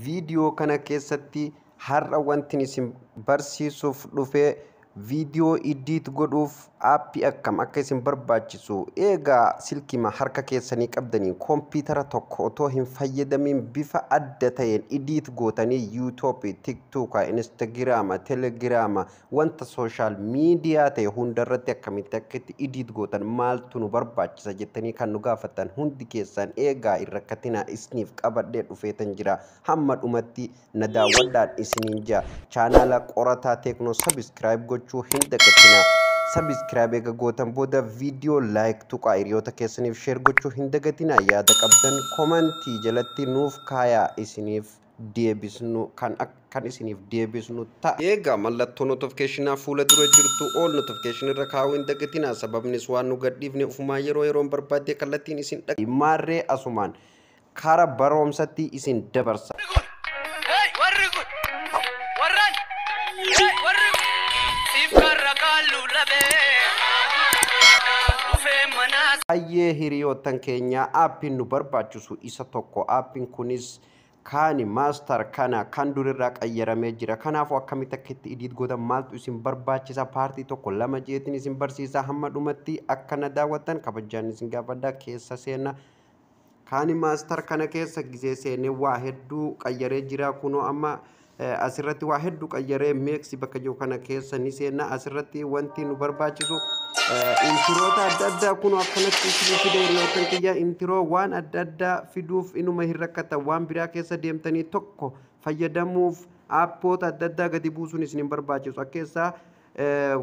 Viidiyoo kana keessatti har'a wantin isin barsiisuuf dhufe viidiyoo iddiit godhuuf aappii akkam akka isin barbaachisu eegaa silkima harka keessanii qabdanii kompiitara tokko otoo hin fayyadamiin bifa adda ta'een iddiit gootanii yuutuubii, tiktuuka, instagiraama, telegiraama, Wanta social media ta'e hunda irratti akkamitti akka itti edit gootan maaltu nu barbaachisa jettanii kan nu gaafattan hundi keessan eegaa hin rakkatinaa isniif qabadhee dhufeetan jira hamma dhumatti na daawwadhaan isiniin jaa chaanaala qorataa teeknoo subscribe gochuu hin dagatinaa subscribe eega gootan booda video like tuqaa hiriyoota keessaniif share gochuu hin dagatinaa yaada qabdan komantii jalatti nuuf kaayaa isiniif deebisnu kan ak- kan isiniif deebisnu ta'a. Eegaa mallattoo notification fuula dura jirtu all notification irra kaa'uu hin dagatinaa sababnis waan nu gadhiifne ufumaa yeroo yeroon barbaaddee kallattiin isin dhaqqaba. Maarree asumaan kara baroomsatti isin dabarsa. Hey, warri kun! Warran! Hey, warri kun! Siif karra kaallu labee! Dhufee manaa Hayyee hiriyoottan keenya aappiin nu barbaachisu isa tokko aappiin kunis Kaani master kana kan dur irraa qayyaramee jira kanaafu akkamitti akka itti edit gootan maaltu isin barbaachisa part 1 2 jeetin isin barsiisa hamma dhumatti akka na daawwattan kabajjaan isin gaafadha keessa seena kaani master kana keessa gisee seene waa hedduu qayyaree jira kunoo amma Asirratti waa heddu qayyaree meeksi bakka jiru kana keessa ni seenna. Asirratti wanti nu barbaachisu intiroota adda addaa kun akkanatti isin fidee yookaan kiyya intiroo waan adda addaa fiduuf inuma hin rakkatan waan biraa keessa deemtanii tokko fayyadamuuf aappoota adda addaa gadi buusuun isin hin barbaachisu. Akka keessaa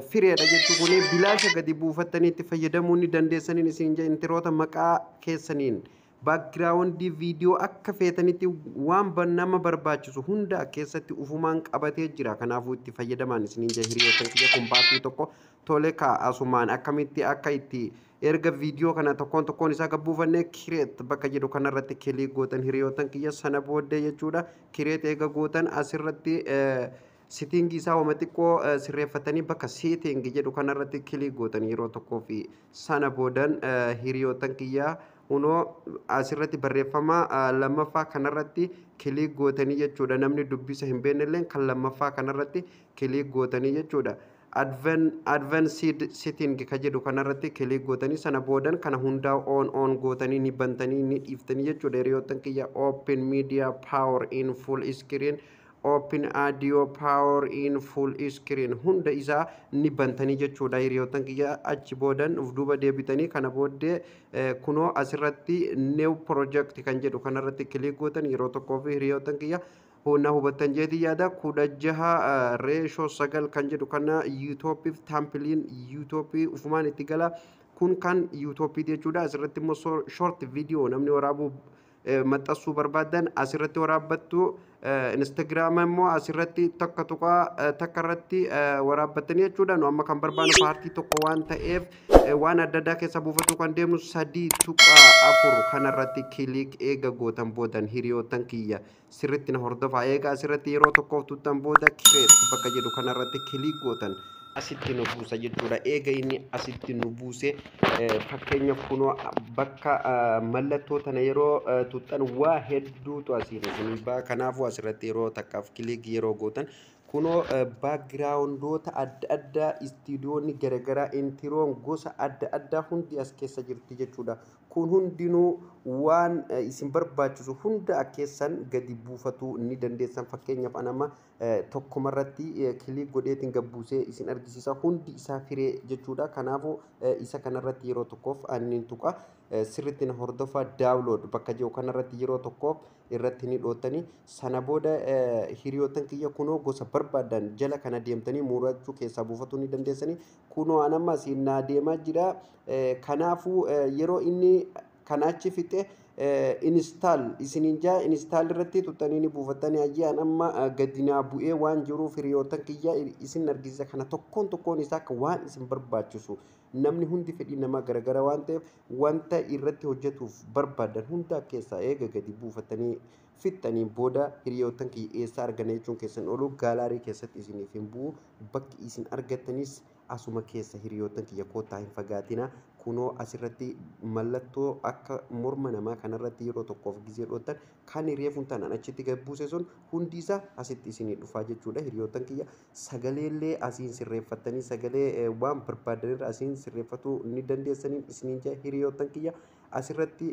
fireedha jechuun kun bilaasha gadi buufattanii itti fayyadamuu ni dandeessaniin isin intiroota maqaa keessaniin. Background video akka feetanitti waan ba- nama barbaachisu hunda as keessatti ufumaan qabatee jira. Kanaafuu itti fayyadamaan isiniin jira hiriyoota kiyya kun baasii tokko tole kaa asumaan akkamitti akka itti erga viidiyoo kana tokkoon tokkoon isaa akka buufanne kireet bakka jedhu kanarratti kilii gootan hiriyootan kiyya sana booddee jechuudha kireet eega gootan asirratti eh, Sitting isaa wama xiqqoo sirreeffatanii bakka sitting jedhu kanarratti kilik gootan yeroo tokkoo fi sana boodan hiriyootan kiyya unoo asirratti barreeffama lammaffaa kanarratti kilik gootanii jechuudha namni dubbisa hin beennelleen kan lammaffaa kanarratti kilik gootanii jechuudha. Advanced sitting ka jedhu kanarratti kilik gootanii sana boodan kana hundaa on on gootanii ni bantanii ni dhiiftanii jechuudha hiriyootan kiyya open media power in full screen Open audio power in full screen hunda isaa ni bantanii jechuudha hiriyoottan kiyya achi boodan of duuba deebitanii kana booddee kunoo asirratti new project kan jedhu kanarratti click gootan yeroo tokkoo fi hiriyoottan kiyya na hubattan jeetii yaada kudha jaha reeshoo sagal kan jedhu kana yuutooppiif taampiliin yuutooppii ufumaan itti gala kun kan yuutooppii jechuudha asirratti immoo short video namni waraabuu maxxansuu barbaaddan asirratti waraabbattu instagiraama immoo asirratti takka tuqaa takka irratti waraabbattanii jechuudha nu amma kan barbaannu paartii tokko waan ta'eef waan adda addaa keessa buufachuu kan deemnu sadii tuqaa afur kanarratti kiliik eega gootan boodan hiriyoottan kiyya sirritti na hordofaa eegaa asirratti yeroo tokkoof tuttan booda kireet bakka jedhu kanarratti kiliik gootan asitti nu buusa jechuudha eega inni asitti nu buuse fakkeenyaaf kunoo bakka mallattoo tana yeroo tuttan waa hedduutu asiin isinii ba'a kanaafuu asirratti yeroo takkaaf kiliik yeroo gootan kunoo baakgiraawundoota adda addaa istiidiyoonni garagaraa intiroon gosa adda addaa hundi as keessa jirti jechuudha Kun hundinuu waan isin barbaachisu hunda akka keessan gadi buufatuu ni dandeessan. Fakkeenyaaf an amma tokkuma irratti kiliik godheetiin gad buusee isin argisiisa. Hundi isaa firee jechuudha. Kanaafuu isa kanarratti yeroo tokkoof anniin tuqa. Sirriitti na hordofaa daawulood bakka jiru kanarratti yeroo tokkoof irratti ni dhootanii. Sana booda hiriyoottan kiyya kunoo gosa barbaadan jala kana deemtanii murachuu keessaa buufatuu ni dandeessanii. Kunoo an amma asiin naa deemaa jira. Kanaafuu yeroo inni kana achi fixe install isiniin jaa install irratti tuttanii ni buufattanii hayyee an amma gadi naa bu'ee waan jiruuf hiriyootan kiyya isin argisiisa kana tokkoon tokkoon isaa akka waan isin barbaachisu namni hundi fedhii namaa garagara waan ta'eef wanta irratti hojjetuuf barbaadan hunda keessaa eega gadi buufattanii fixxaniin booda hiriyoottan kiyya eessaa arganna jechuun keessan oolu gaalaarii keessatti isiniif hin bu'u bakki isin argattanis asuma keessa hiriyoottan kiyya koottaa hin fagaatina kunoo asirratti mallattoo akka morma namaa kanarratti yeroo tokkoof gizee dhoottan kan reefun tanan achitti gad buuse sun hundi isaa asitti isinii dhufaa jechuudha hiriyoottan kiyya sagaleellee asiin sirreeffattanii sagalee waan barbaaddanirra asiin sirreeffatuu ni dandeessaniin isiniin jaa hiriyoottan kiyya Asirratti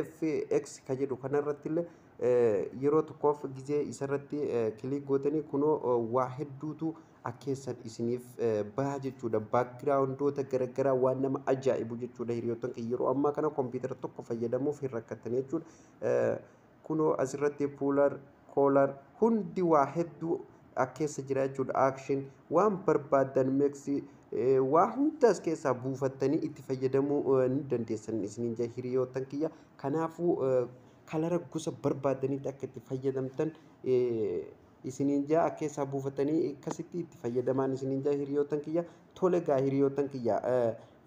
fx ka jedhu kanarratti illee yeroo tokkoof gizee isarratti kiliik gootanii kunoo waa hedduutu akkeessan isiniif baha jechuudha. Baakgiraawundoota garaagaraa waan nama ajaa'ibu jechuudha hiriyoottan kiyya yeroo ammaa kana kompiitara tokko fayyadamuuf hin rakkattan jechuudha. Kunoo asirratti puller, color hundi waa hedduu as keessa jira jechuudha. Action waan barbaaddan makes waa hunda as keessaa buufattanii itti fayyadamuu ni dandeessan isiniin jaa hiriyoottan kiyya. Kanaafuu kalara gosa barbaaddanitti akka itti fayyadamtan isiniin jaa as keessaa buufattanii akkasitti itti fayyadamaan isiniin jaa hiriyoottan kiyya. Tole gaa hiriyoottan kiyya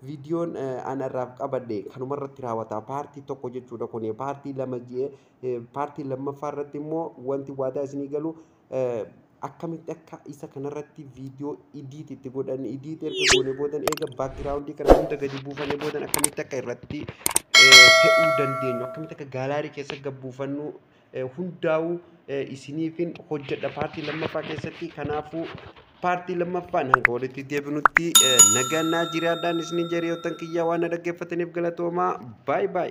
Viidiyoon an irraaf qabadhe kanuma irratti raawwata. Paartii tokko jechuudha kun paartii lama jee paartii lammaffaa irratti immoo wanti waadaa isinii galu akkamitti akka isa kanarratti viidiyoo idiit itti godhan idiit erga goone boodan eega baakgiraawundii kana hunda gadi buufane boodan akkamitti akka irratti fe'uu dandeenyu akkamitti akka gaalaarii keessa gabbuufannu hundaa'uu isiniifin hojjedha paartii lammaffaa keessatti kanaafuu paartii lammaffaan hanga walitti deebinutti nagaan naa jiraadhaan isiniin jedha yoo tan kiyyaa waan na dhaggeeffataniif galatoomaa baay baay.